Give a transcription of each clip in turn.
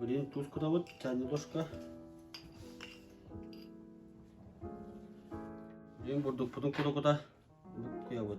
Блин, тушкада вот тянедошка. Блин, бурдук путun куда куда я вот.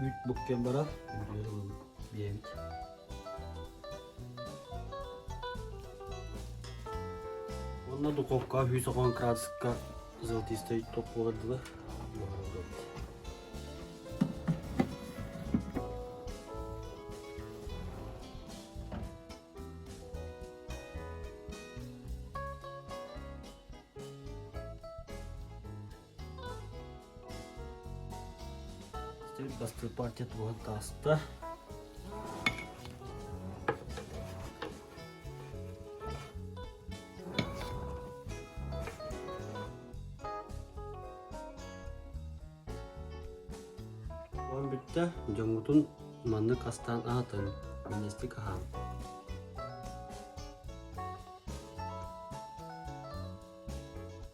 Үүт буктан барар, үрдүөр ылабын диэбит. Онно духовка 190 градуска золотистой топ болардылар. Сир бастыыр партия туһан тааста. Оон бүттэ, дьоҥҥутун маннык астаан аһатан, миннэстик аһаан.